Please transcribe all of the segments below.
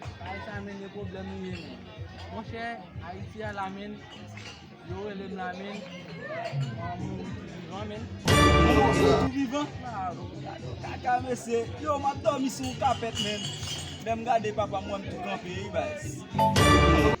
Bagay sa menn yo pwoblèm li ye menn. Monchè ayiti a la menn yo rele m la menn mwen mouri tou vivan menn. Mwen mouri tou vivan. Gade kaka mesye. Yo m ap dòmi sou yon kapèt menn. Lè m gade papa m wè m tou kanpe wi baz.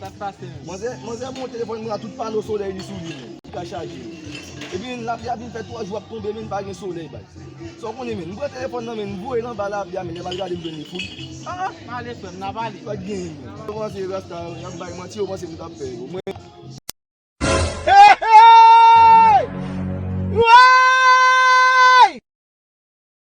Sak pase menm. Manzè manzè mwen telefòn mwen a tout pano solèy li sou li menm ki ka chaje yo. Epi lapli a vin fè 3 jou ap tonbe menm pa gen solèy bay. Sa w konnen menm. M pran telefòn nan menm m voye l anba lapli a menm lè m al gade m jwenn li fout. Ah ah m ale frè m nap ale. Pat gen menm. Yo panse rasta yo yap bay manti yo panse m tap fè yo mwen.